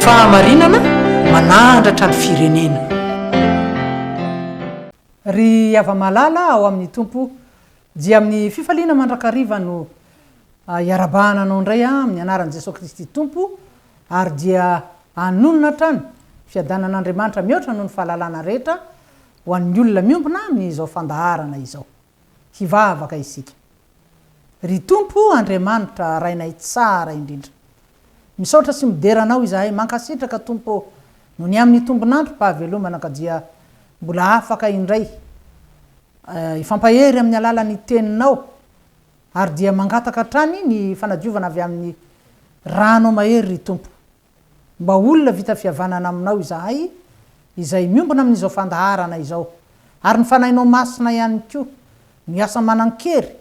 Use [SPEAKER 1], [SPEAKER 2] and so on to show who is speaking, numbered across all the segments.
[SPEAKER 1] Fahamarinana manahandratra ny firenena.
[SPEAKER 2] Ry hava-malala ao amin'ny Tompo, dia amin'ny fifaliana mandrakariva no hiara-bahana anao indray amin'ny anaran'i Jesoa Kristy Tompo, ary dia hanonona hatrany fiadanan'Andriamanitra mihoatra noho ny fahalalana rehetra ho an'ny olona miombona amin'izao fandaharana izao. hivavaka isika. Ry Tompo Andriamanitra Rainay tsara indrindra. Misaotra sy midera Anao izahay, mankasitraka Tompo ô, noho ny amin'ny tombon'androm-pahavelomana ka dia mbola afaka indray hifampahery amin'ny alalan'ny Teninao ary dia mangataka hatrany ny fanadiovana avy amin'ny Ranao mahery ry Tompo. Mba olona vita fihavanana aminao izahay izay miombona amin'izao fandaharana izao, ary ny Fanahinao Masina ihany koa no hiasa manan-kery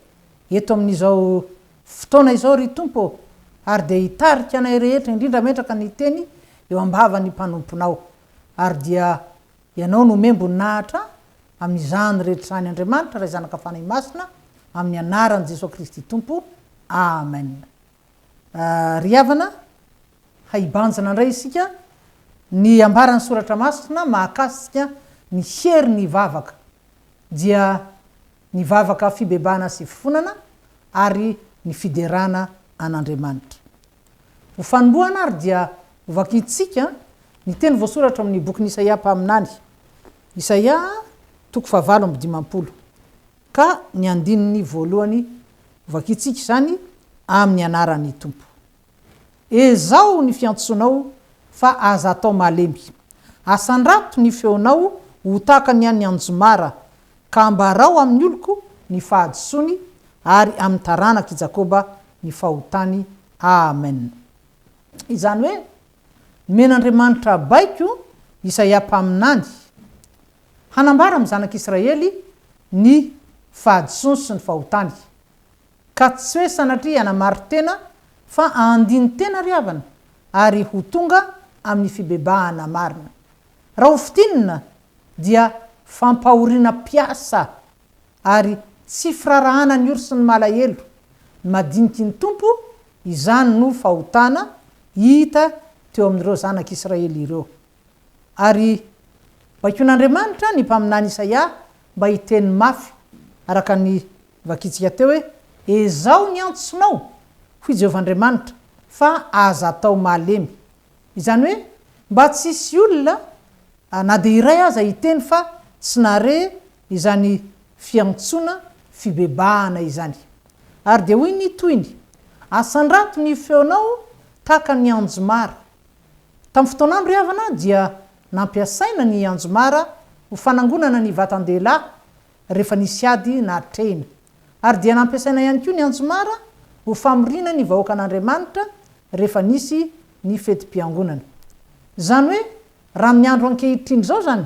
[SPEAKER 2] eto amin'izao fotoana izao, ry Tompo ô, ary dia hitarika anay rehetra, indrindra mentraka ny Teny eo am-bavan'ny mpanomponao, ary dia Ianao no mihem-boninahitra amin'izany rehetra izany, Andriamanitra Ray Zanaka Fanahy Masina, amin'ny Anaran'i Jesoa Kristy Tompo, Amen. Ry havana, haibanjina indray isika ny ambaran'ny Soratra Masina mahakasika ny herin'ny vavaka, dia ny vavaka fibebahana sy fifonana ary ny fiderana an'Andriamanitra. Ho fanombohana ary dia hovakintsika ny teny voasoratra ao amin'ny bokin'i Isaia mpaminany, Isaia toko fahavalo amby dimampolo, Ka ny andininy voalohany vakintsika izany amin'ny anaran'ny Tompo. Ezaho ny fiantsoanao fa aza atao malemy. Asandrato ny feonao ho tahaka ny an'ny anjomara, ka ambarao amin'ny oloko ny fahadisoany ary amin'ny taranak'i Jakoba ny fahotany. Amen. Izany hoe, nomen'Andriamanitra baiko Isaia mpaminany Hanambara amin'ny zanak'i Israely ny fahadisoany sy ny fahotany. Ka tsy hoe sanatria hanamari-tena fa handini-tena ry havana ary ho tonga amin'ny fibebahana marina. Raha ho fintinina dia fampahoriana mpiasa ary tsy firarahana ny ory sy ny malahelo madiniky ny Tompo izany no fahotana hita teo amin'ireo zanak'i Israely ireo. Ary baikoin'Andriamanitra ny mpaminany Isaia mba hiteny mafy, araka ny vakintsika teo hoe, Ezaho ny antsonao, hoy Jehovah Andriamanitra, fa aza atao malemy. Izany hoe, mba tsy hisy olona na dia iray aza hiteny fa tsy nahare izany fiantsoana fibebahana izany. Ary dia hoy ny tohiny, Asandrato ny feonao tahaka ny anjomara. Tamin'ny fotoanandro ry havana dia nampiasaina ny anjomara ho fanangonana ny vatan-dehilahy rehefa nisy ady natrehina. Ary dia nampiasaina ihany koa ny anjomara ho famoriana ny vahoakan'Andriamanitra rehefa nisy ny fetim-piangonana. Izany hoe raha amin'ny andro ankehitriny izao izany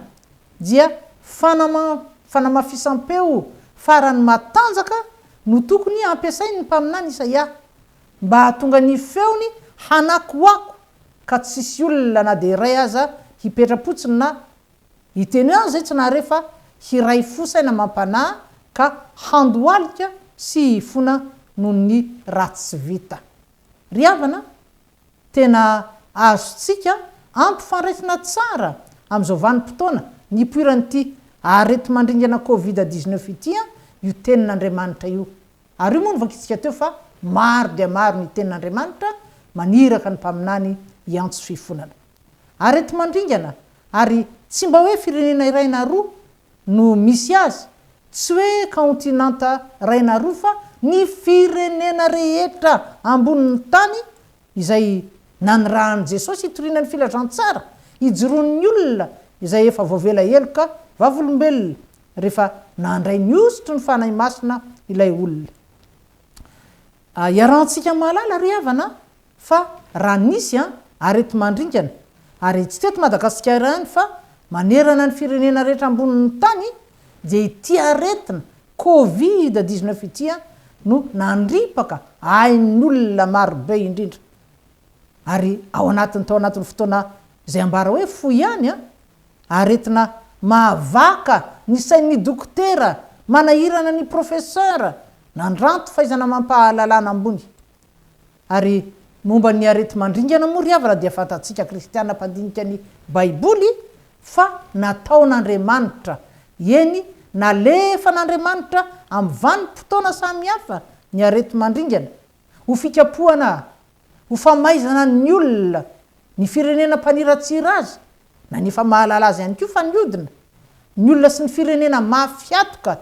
[SPEAKER 2] dia fanama fanamafisam-peo farany matanjaka no tokony hampiasain'ny mpaminany Isaia Mba hahatonga ny feony hanakoako ka tsy hisy olona na dia iray aza hipetra-potsiny na hiteny hoe an'izay tsy nahare fa hiray fo saina amam-panahy ka handohalika sy hifona noho ny ratsy tsy vita. Ry havana, tena azontsika ampifandraisina tsara amin'izao vanim-potoana nipoiran'ity areti-mandringana Covid dix-neuf ity io tenin'Andriamanitra io Ary io moa no vakintsika teo fa maro dia maro ny tenin'Andriamanitra maniraka ny mpaminany hiantso fifonana. Areti-mandringana ary tsy mba hoe firenena iray na roa no misy azy, tsy hoe kaontinanta iray na roa fa ny firenena rehetra ambonin'ny tany izay nanirahan'i Jesosy hitoriana ny filazantsara, hijoroan'ny olona izay efa voavela heloka vavolombelona rehefa nandray ny hosotry ny Fanahy Masina ilay olona. Iarahantsika mahalala ry havana an, fa raha nisy an, areti-mandringana, ary tsy teto Madagasikara ihany fa manerana ny firenena rehetra ambonin'ny tany, dia ity aretina covid dix-neuf ity an, no nandripaka ain'olona marobe indrindra. Ary ao anatiny tao anatin'ny fotoana izay ambara hoe fohy ihany an, Aretina mahavaka ny sain'ny dokotera manahirana ny professeur nandranto fahaizana amam-pahalalana ambony. Ary momba ny areti-mandringana moa ry havana dia fantatsika kristiana mpandinika ny baiboly fa nataon'Andriamanitra, eny nalefan'Andriamanitra amin'ny vanim-potoana samihafa ny areti-mandringana, ho fikapohana, ho famaizana ny olona, ny firenena mpaniratsira azy, na ny efa mahalala azy ihany koa fa niodina, ny olona sy ny firenena mafy hatoka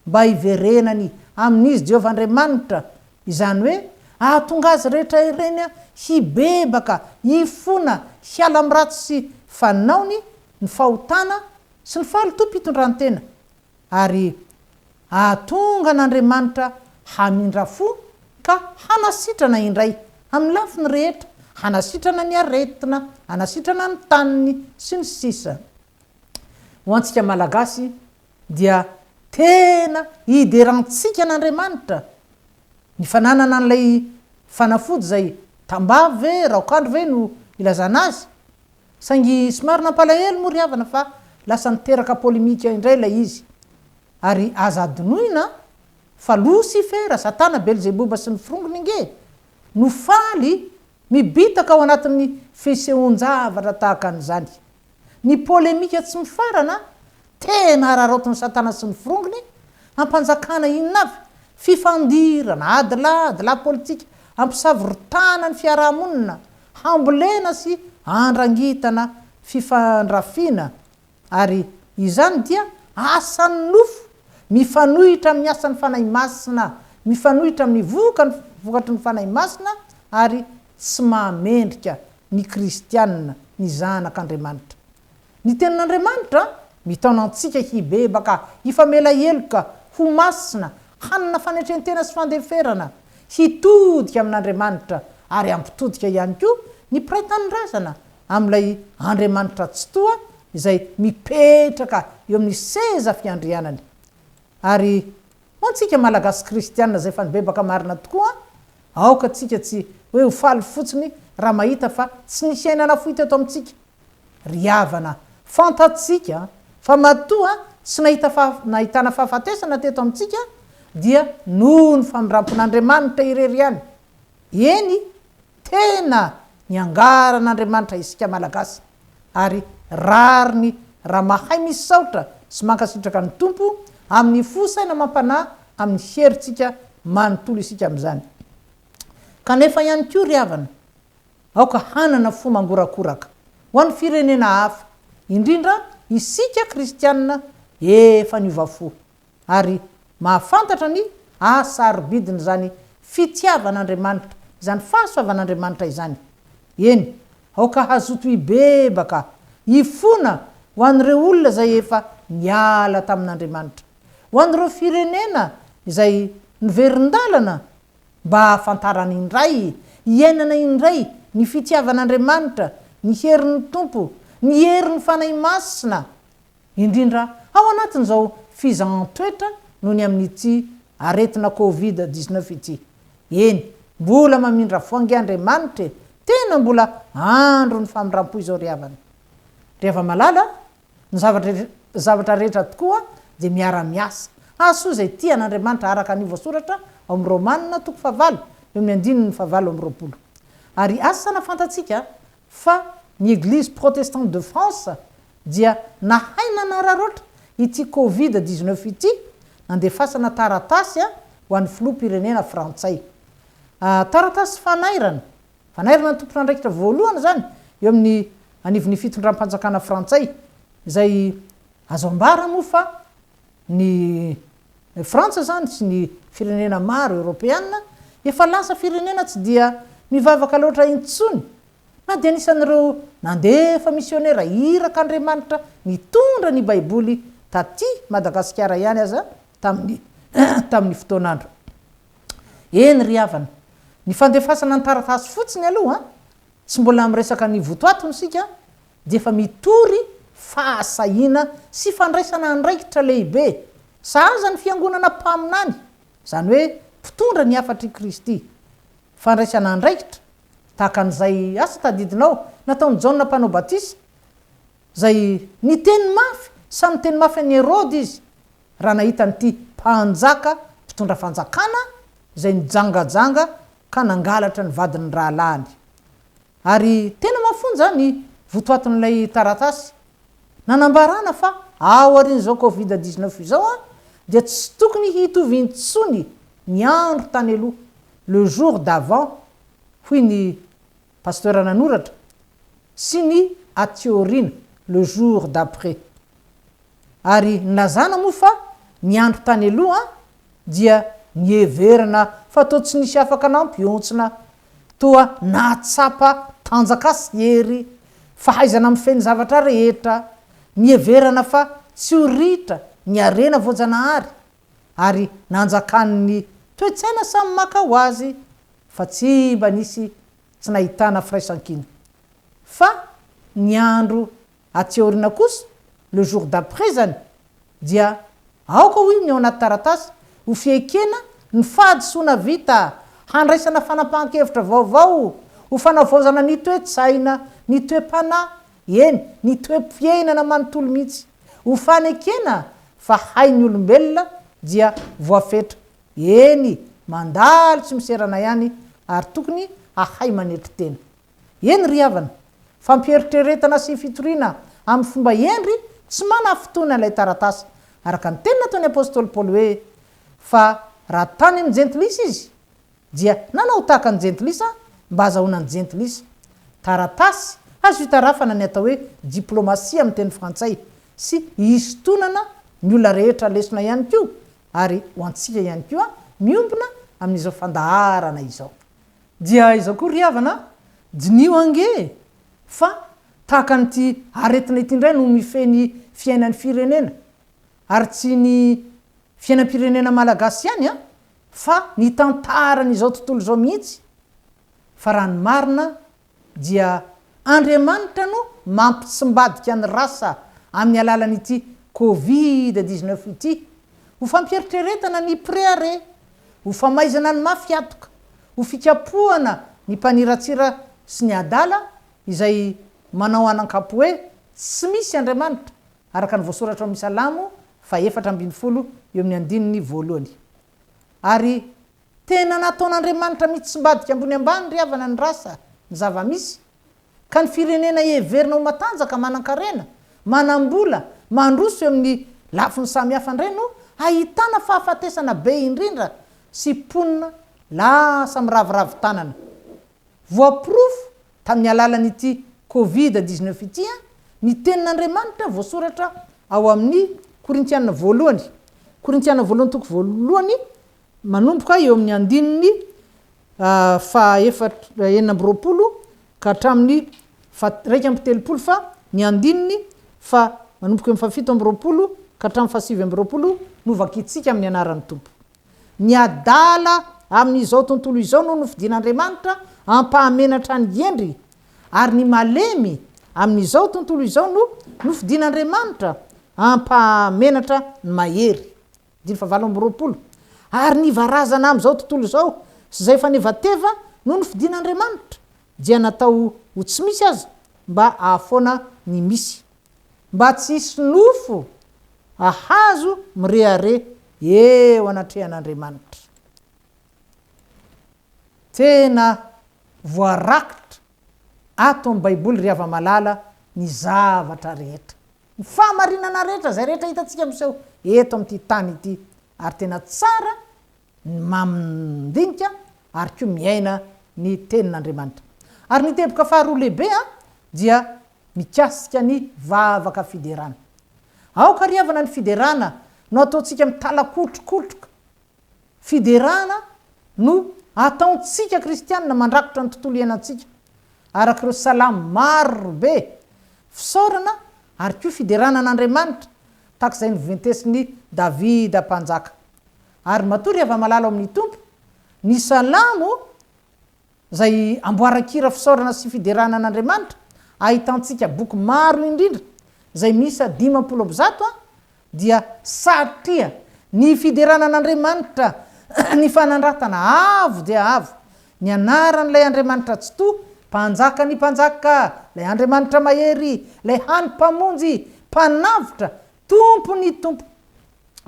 [SPEAKER 2] mba hiverenany amin'Izy Jehovah Andriamanitra, izany hoe hahatonga azy rehetra ireny hibebaka, hifona, hiala amin'ny ratsy fanaony, ny fahotana, sy ny fahalotoam-pitondrantena, Ary hahatonga an'Andriamanitra hamindra fo ka hanasitrana indray, amin'ny lafiny rehetra, hanasitrana ny aretina, hanasitrana ny taniny, sy ny sisa Ho antsika Malagasy dia tena iderantsika an'Andriamanitra ny fananana an'ilay fanafody izay tambavy ve, raokandro ve no ilazana azy? Saingy somary nampalahelo moa ry havana fa lasa niteraka polemika indray ilay izy. Ary aza adinoina fa Losifera, Satana, Belzeboba sy ny firongony ange no faly mibitaka ao anatin'ny fisehoan-javatra tahaka an'izany. Ny polemika tsy mifarana Tena hararaotin'i Satana sy ny forongony hampanjakana inona avy? Fifandirana, adilahy, lahy politika, hampisavoritahana ny fiaraha-monina, hambolena sy handrangitana fifandrafiana, ary izany dia asan'ny nofo mifanohitra amin'ny asan'ny Fanahy Masina, mifanohitra amin'ny vokany, vokatry ny Fanahy Masina, ary tsy mahamendrika ny kristiana, ny zanak' Andriamanitra. Ny Tenin'Andriamanitra mitaona antsika hibebaka, hifamela heloka, ho masina, hanana fanetren-tena sy fandeferana, hitodika amin'Andriamanitra, ary hampitodika ihany koa ny mpiray tanindrazana amin'ilay Andriamanitra Tsitoha izay mipetraka eo amin'ny seza fiandrianany. Ary ho antsika Malagasy kristiana izay efa nibebaka marina tokoa, aoka tsika tsy hoe ho faly fotsiny raha mahita fa tsy nisy aina nafoy teto amintsika, Ry havana, fantatsika fa matoa tsy nahita faha, nahitana fahafatesana teto amintsika dia noho ny famindrampon'Andriamanitra irery ihany. Eny, tena niangaran'Andriamanitra isika Malagasy ary rariny raha mahay misaotra sy mankasitraka ny Tompo amin'ny fo saina amam-panahy amin'ny herintsika manontolo isika amin'izany. Kanefa ihany koa ry havana, Aoka hanana fo mangorakoraka ho an'ny firenena hafa, indrindra isika kristianina efa niova fo ary mahafantatra ny haha-sarobidin'izany fitiavan'Andriamanitra, izany fahasoavan'Andriamanitra izany. Eny, aoka hazoto hibebaka, hifona ho an'ireo olona izay efa niala tamin'Andriamanitra, ho an'ireo firenena izay niverin-dalana mba hahafantarany indray, hiainana indray ny fitiavan'Andriamanitra, ny herin'ny Tompo, ny herin'ny Fanahy Masina, indrindra ao anatin'izao fizahan-toetra noho ny amin'ity aretina covid dix-neuf ity. Eny, mbola mamindra fo ange Andriamanitra e! Tena mbola andron'ny famindram-po izao ry havana. Ry hava-malala a! Ny zavatra zavatra rehetra tokoa dia miara-miasa. Hahasoa izay tia an'Andriamanitra araka ny voasoratra ao amin'ny Romana toko fahavalo eo amin'ny andininy fahavalo amby roapolo. Ary asa hanafantantsika fa ny Eglise Protestante de France dia nahay nanararaotra ity Covid dix-neuf ity nandefasana taratasy ho an'ny Filoham-pirenena Frantsay. Taratasy fanairana. Vanairana ny tompon'andraikitra voalohany izany eo amin'ny anivon'ny fitondram-panjakana frantsay, izay azo ambara moa fa ny Frantsa izany sy ny firenena maro eoropeana efa lasa firenena tsy dia mivavaka loatra intsony na dia anisan'ireo nandefa misionera iraka Andriamanitra nitondra ny Baiboly taty Madagasikara ihany aza tamin'ny tamin'ny fotoan'andro Eny ry havana, ny fandefasana ny taratasy fotsiny aloha, tsy mbola miresaka ny votoatiny isika, dia efa mitory fahasahiana sy fandraisana andraikitra lehibe sahaza ny fiangonana mpaminany, izany hoe mpitondra ny hafatr' i Kristy. Fandraisana andraikitra tahaka an'izay asa tadidinao nataon'i Jaona Mpanao Batisa, izay niteny mafy samy niteny mafy an'i Heroda izy raha nahita an'ity mpanjaka mpitondra fanjakana izay nijangajanga ka nangalatra ny vadin'ny rahalahiny. Ary tena mafonja ny votoatin'ilay taratasy nanambarana fa aorian'izao covid dix neuf izao dia tsy tokony hitovy intsony ny andro tany aloha, le jour d'avant, hoy ny. Pasteur nanoratra, sy ny aty aoriana, le jour d'après. Ary nilazana moa fa ny andro tany aloha dia niheverana fa toa tsy nisy afaka nampihontsina, toa nahatsapa tanjaka sy hery, fahaizana mifehy ny zavatra rehetra, niheverana fa tsy ho ritra ny harena voajanahary. ary nanjakan' ny toe-tsaina samy maka ho azy fa tsy mba nisy tsy nahitana firaisankina. Fa ny andro aty aoriana kosa, le jour d'après zany, dia aoka hoy ny ao anaty taratasy ho fiekena ny fahadisoana vita, handraisana fanapahan-kevitra vaovao, ho fanavaozana ny toe-tsaina, ny toe-panahy eny, ny toe-piainana manontolo mihitsy. Ho fanekena fa hain'ny olombelona dia voafetra, eny, mandalo tsy miserana ihany ary tokony hahay manetry tena. Eny ry havana, fampiheritreretana sy fitoriana amin'ny fomba hendry tsy manafintohina ilay taratasy, araka ny teny nataon'ny apostoly Paoly hoe, Fa raha tany amin'ny jentilisa izy, dia nanao tahaka ny jentilisa mba hazahoana ny jentilisa. Taratasy azo itarafana ny atao hoe diplomasia amin'ny teny frantsay sy hisintonana ny olona rehetra lesona ihany koa ary ho antsika ihany koa miombona amin'izao fandaharana izao. Dia izao koa ry havana a, diniho ange e, fa tahaka an'ity aretina ity indray no mifehy ny fiainan'ny firenena, ary tsy ny fiainam-pirenena malagasy ihany an, Fa ny tantaran'izao tontolo izao mihitsy, fa raha ny marina dia Andriamanitra no mampitsimbadika ny rasa amin'ny alalan'ity covid dix-neuf ity, ho fampieritreretana ny prea re, ho famaizana ny mafy hatoka, ho fikapohana ny mpaniratsira sy ny adala izay manao anankapo hoe tsy misy Andriamanitra, araka ny voasoratra ao amin'ny Salamo fahefatra ambin'ny folo eo amin'ny andininy voalohany. Ary tena nataon'Andriamanitra mitsimbadika ambony ambany ry havana ny rasa, ny zava-misy, ka ny firenena heverina ho matanjaka, manan-karena, manam-bola, mandroso eo amin'ny lafiny samihafa indray no ahitana fahafatesana be indrindra sy mponina lasa miraviravy tanana. Voaporofo tamin'ny alalan'ity Covid dix-neuf ity ny tenin'Andriamanitra voasoratra ao amin'ny Korintiana voalohany, Korintiana voalohany toko voalohany, manomboka eo amin'ny andininy faha-efatra, enina amby roapolo ka hatramin'ny faha-iraika amby telopolo fa ny andininy fa manomboka eo amin'ny faha-fito amby roapolo ka hatramin'ny faha-sivy amby roapolo no vakintsika amin'ny anaran'ny Tompo. Ny adala amin'izao tontolo izao no nofidin'Andriamanitra hampahamenatra ny hendry, ary ny malemy amin'izao tontolo izao no nofidin'Andriamanitra hampahamenatra ny mahery. Andininy fahavalo amby roapolo, Ary ny varazana amin'izao tontolo izao sy izay fanevateva no nofidin'Andriamanitra, dia natao ho tsy misy aza, mba hahafoana ny misy. Mba tsy hisy nofo ahazo mirehareha eo anatrehan'Andriamanitra. Tena voarakitra ato amin'ny Baiboly ry hava-malala ny zavatra rehetra. Ny fahamarinana rehetra, izay rehetra hitantsika miseho eto amin'ity tany ity. Ary tena tsara ny mandinika ary koa miaina ny Tenin'Andriamanitra. Ary ny teboka faharoa lehibe dia mikasika ny vavaka fiderana. Aoka ry havana ny fiderana no ataontsika mitalakotrokotroka. Fiderana no ataontsika kristianina mandrakotra ny tontolo iainantsika, araka ireo salamo maro be fisaorana ary koa fiderana an'Andriamanitra, tahaka izay noventesin'i Davida Mpanjaka. Ary matory hava-malala ao amin'ny Tompo ny salamo izay amboaran-kira fisaorana sy fiderana an'Andriamanitra, ahitantsika boky maro indrindra izay miisa dimampolo amby zato dia satria ny fiderana an'Andriamanitra ny fanandratana avo dia avo ny anaran'ilay Andriamanitra Tsitoha, Mpanjakan'ny mpanjaka, ilay Andriamanitra Mahery, ilay hany Mpamonjy, Mpanavotra, Tompo ny Tompo,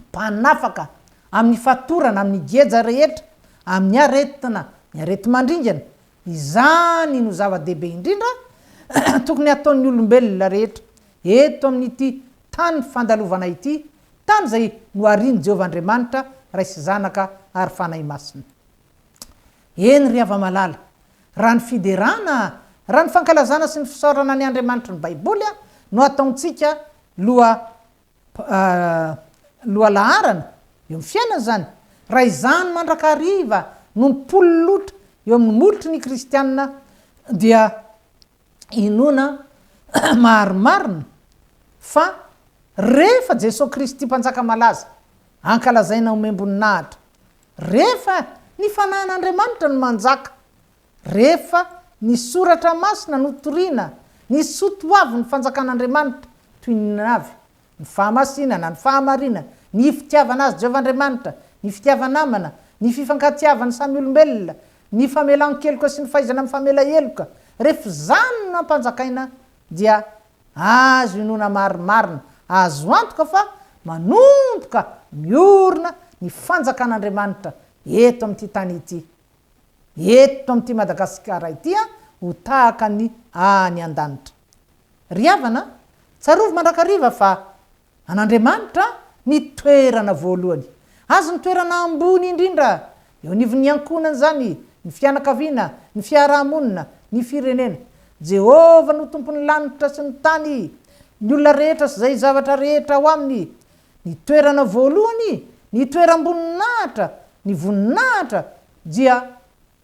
[SPEAKER 2] Mpanafaka amin'ny fatorana, amin'ny geja rehetra, amin'ny aretina, ny areti-mandringana, izany no zava-dehibe indrindra tokony hataon'ny olombelona rehetra eto amin'ity tany fandalovana ity, tany izay noharian'i Jehovah Andriamanitra, Ray sy Zanaka ary Fanahy Masina. Eny, ry hava-malala, raha ny fiderana, raha ny fankalazana sy ny fisaorana ny Andriamanitry ny Baiboly no ataontsika, Loha, ah, lohalaharana eo amin'ny fiainana izany, raha izany mandrakariva no nipololotra eo amin'ny molotry ny kristiana dia inoana marimarina fa rehefa Jesoa Kristy Mpanjaka malaza ankalazaina omem-boninahitra, rehefa ny Fanahin'Andriamanitra no manjaka, Rehefa ny Soratra Masina no toriana, ny soa toavin'ny Fanjakan'Andriamanitra, toy ny navy, ny fahamasinana, ny fahamarinana, ny fitiavana azy Jehovah Andriamanitra, ny fitiava-namana, ny fifankatiavan'ny samy olombelona, ny famelan-keloka sy ny fahaizana mifamela heloka, rehefa izany no ampanjakaina, dia azo inoana marimarina, azo antoka fa manomboka miorina ny Fanjakan'Andriamanitra eto amin'ity tany ity. eto amin'ity Madagasikara ity ho tahaka ny any an-danitra. Ry havana, tsarovy mandrakariva fa an'Andriamanitra ny toerana voalohany. Azy ny toerana ambony indrindra. Eo anivon'ny ankohonana izany, ny fianakaviana, ny fiaraha-monina, ny firenena. Jehovah no Tompon'ny lanitra sy ny tany, ny olona rehetra sy izay zavatra rehetra ao aminy. Ny toerana voalohany, ny toeram-boninahitra, ny voninahitra dia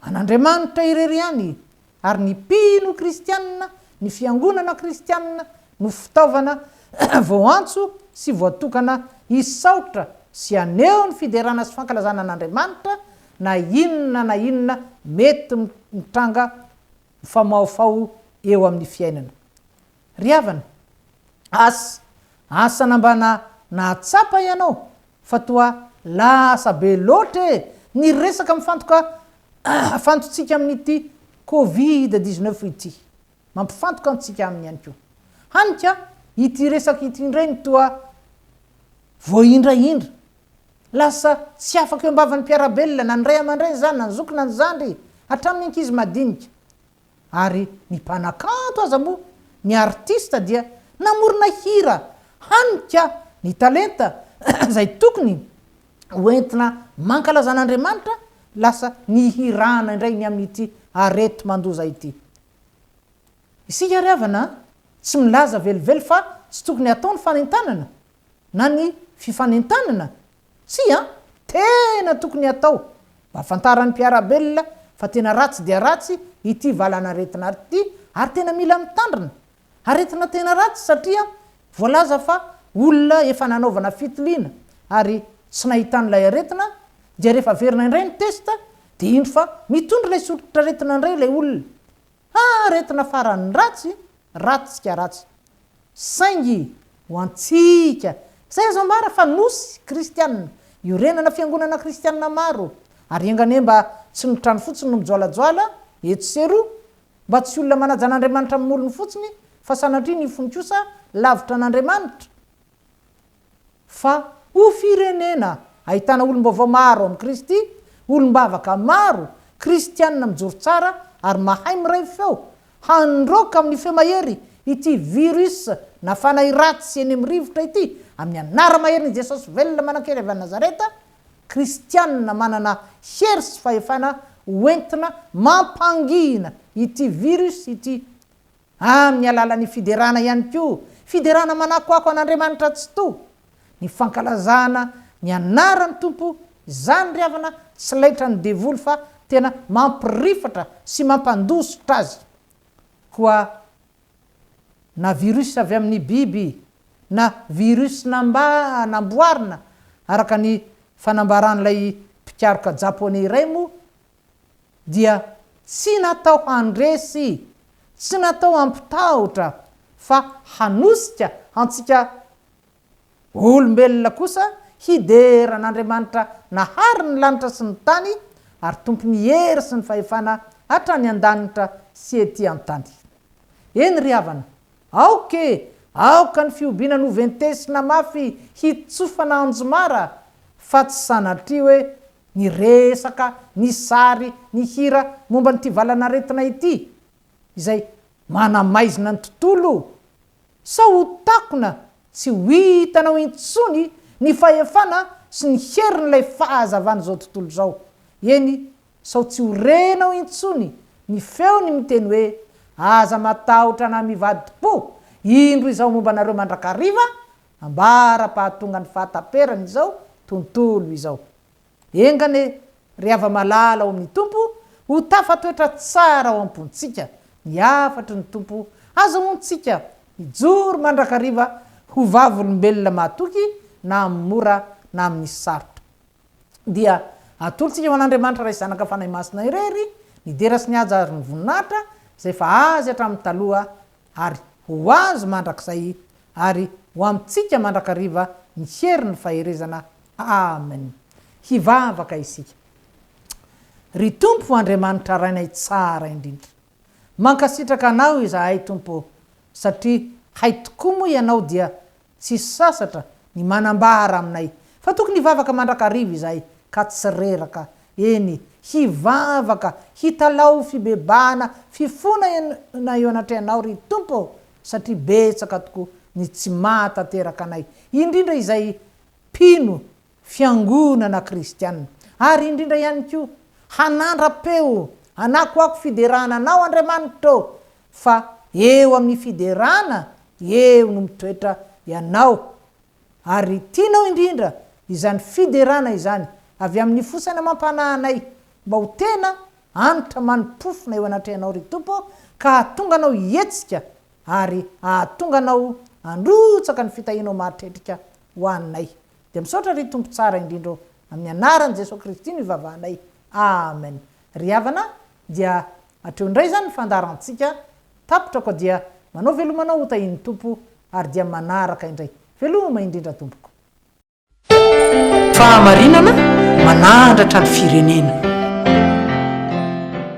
[SPEAKER 2] an'Andriamanitra irery ihany, ary ny mpino kristianina, ny fiangonana kristianina no fitaovana voantso sy voatokana hisaotra sy haneho ny fiderana sy fankalazana an'Andriamanitra na inona na inona mety mitranga mifamahofaho eo amin'ny fiainana. Ry havana, asa, asa na mba na nahatsapa ianao fa toa lasa be loatra e ny resaka mifantoka fantotsika amin'ity covid dix neuf ity, mampifantoka antsika aminy ihany koa. Hany ka ity resaka ity indray no toa voahindrahindra. Lasa tsy afaka eo am-bavan'ny mpiara-belona na ny ray aman-dreny izany na ny zoky na ny zandry, hatramin'ny ankizy madinika. Ary ny mpanakanto aza moa, ny artista dia namorona hira hanika ny talenta izay tokony ho entina mankalaza an'Andriamanitra, lasa nihirana indray ny amin'ity areti-mandoza ity. Isika ry havana a! Tsy milaza velively fa tsy tokony hatao ny fanentanana na ny fifanentanana? Tsia an! Tena tokony hatao mba hafantaran'ny mpiara-belona fa tena ratsy dia ratsy ity valanaretina ity ary tena mila mitandrina. Aretina tena ratsy satria voalaza fa olona efa nanaovana fitiliana ary tsy nahitana ilay aretina dia rehefa averina indray ny test dia indro fa mitondra ilay soritran'aretina indray ilay olona. Haa aretina farany ratsy, ratsy ka ratsy. Saingy ho antsika, izay azo ambara fa nosy kristianina, iorenana fiangonana kristianina maro, ary enga anie mba tsy ny trano fotsiny no mijoalajoala etsy sy eroa, mba tsy olona manaja an'Andriamanitra amin'ny molony fotsiny, fa sanatria ny fony kosa lavitra an'Andriamanitra, Fa ho firenena ahitana olom-baovao maro amin'i Kristy, olom-bavaka maro, Kristianina mijoro tsara ary mahay miray feo, handroaka amin'ny feo mahery ity virus na fanahy ratsy eny amin'ny rivotra ity, amin'ny anara-maherin'i Jesosy velona manan-kery avy any Nazareta, Kristianina manana hery sy fahefana ho entina mampangina ity virus ity. Amin'ny alalan'ny fiderana ihany koa, fiderana manakoako an'Andriamanitra Tsitoha, ny fankalazana ny anaran'ny Tompo, izany ry havana tsy laitran'ny devoly fa tena mampirifatra sy mampandositra azy. Koa na virus avy amin'ny biby na virus namba namboarina araka ny fanambaran'ilay mpikaroka Japoney iray moa dia tsy natao handresy, tsy natao hampitahotra fa hanosika antsika olombelona kosa hidera an'Andriamanitra nahary ny lanitra sy ny tany ary Tompon'ny hery sy ny fahefana hatrany an-danitra sy ety an-tany. Eny ry havana, aoka e, aoka ny fihobiana noventesina mafy hitsofana anjomara fa tsy sanatria hoe Ny resaka, ny sary, ny hira momba an'ity valanaretina ity izay manamaizina ny tontolo sao ho takona tsy ho hitanao intsony ny fahefana sy ny herin'ilay fahazavan'izao tontolo izao, eny sao tsy ho renao intsony ny feony miteny hoe aza matahotra na mivadi-po, indro izao momba anareo mandrakariva ambara-pahatongan'ny fahataperan'izao tontolo izao. Enga anie, ry hava-malala ao amin'ny Tompo, ho tafatoetra tsara ao am-pontsika ny hafatry ny Tompo, azahoantsika hijoro mandrakariva ho vavolombelona mahatoky na amin'ny mora na amin'ny sarotra. Dia atolontsika ho an'Andriamanitra Ray Zanaka Fanahy Masina irery ny dera sy ny haja ary ny voninahitra izay efa Azy hatramin'ny taloha ary ho Azy mandrakizay ary ho amintsika mandrakariva ny hery ny faherezana Amen Hivavaka isika Ry Tompo Andriamanitra Rainay tsara indrindra Mankasitraka Anao izahay Tompo o satria hay tokoa moa Ianao dia Tsy sasatra ny manambara aminay fa tokony hivavaka mandrakariva izahay ka tsy reraka, eny, hivavaka, hitalaho fibebahana, fifona ena eo anatrehanao, ry Tompo ô, satria betsaka tokoa ny tsy maha tanteraka anay, indrindra izay mpino fiangonana kristiana, ary indrindra ihany koa, hanandra-peo, hanakoako fiderana Anao, Andriamanitra ô, fa eo amin'ny fiderana eo no mitoetra ianao ary tianao indrindra izany fiderana izany avy amin'ny fo saina amam-panahy anay mba ho tena anitra mani-pofona eo anatrehanao ry Tompo ka hahatonga anao hihetsika ary hahatonga anao handrotsaka ny fitahianao mahatretrika ho anay dia misaotra ry Tompo tsara indrindra ô amin'ny anaran'i Jesoa Kristy no ivavahanay Amen ry havana dia Hatreo indray izany ny fandaharantsika, tapitra ko dia manao veloma anao ho tahin'ny Tompo ary dia manaraka indray. Veloma indrindra tompoko.
[SPEAKER 1] Fahamarinana manahandratra ny firenena.